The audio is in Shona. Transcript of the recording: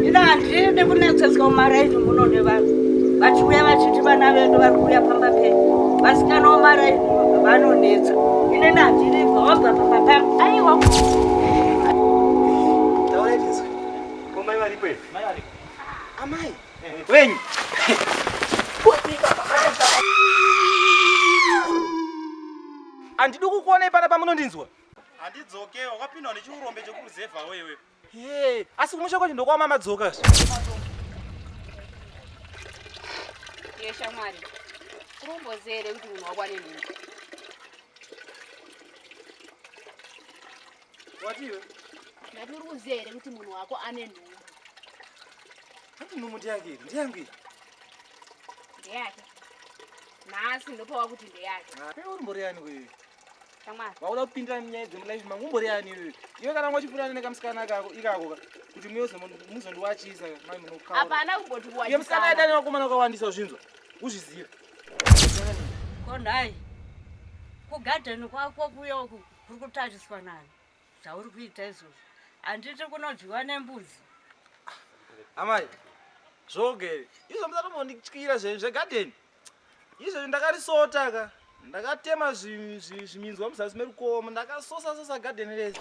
Ina handidi kunetsetswa mumaraini muno nevanhu vachiuya vachiti vana vedu vari kuuya pamba pedu vasikana vomaraini vanonetsa inini handidi vabva pamba pangu aiwa amai wenyu handidi kukuonai pana pamunondinzwa handidzoke wakapindwa nechiurombe chekuruzevha wewe Hey, asi kumusha kwacho ndokwama madzoka zve. Yesha mwari. Kurombozere kuti munhu wakwane nini. Watiwe? Ndati uri kuzere kuti munhu wako ane nhumbu. Hati nhumbu ndiyangu iri, ndiyangu iri. Ndeyake. Nhasi ndopawa kuti ndeyake. Uri mbori yani wewe? vakuda kupindira nyaya dzemulife mangu umboriani iwe iwe kana wanga uchifurana nekamusikana kako ikako kuti muzondiwachisa mai munokaaiye musikana aita nevakomana ukawandisa uzvinzwa uzviziva konhai kugadheni kwako kuyo kuri kutariswa nani zvauri kuita izvozvo handiti kunodyiwa nembudzi amai zvogere izvo musatombondityira zvenyu zvegadheni Izvezvi ndakarisota ka. Ndakatema zviminzwa muzasi merukomo ndakasosa sosa garden rese.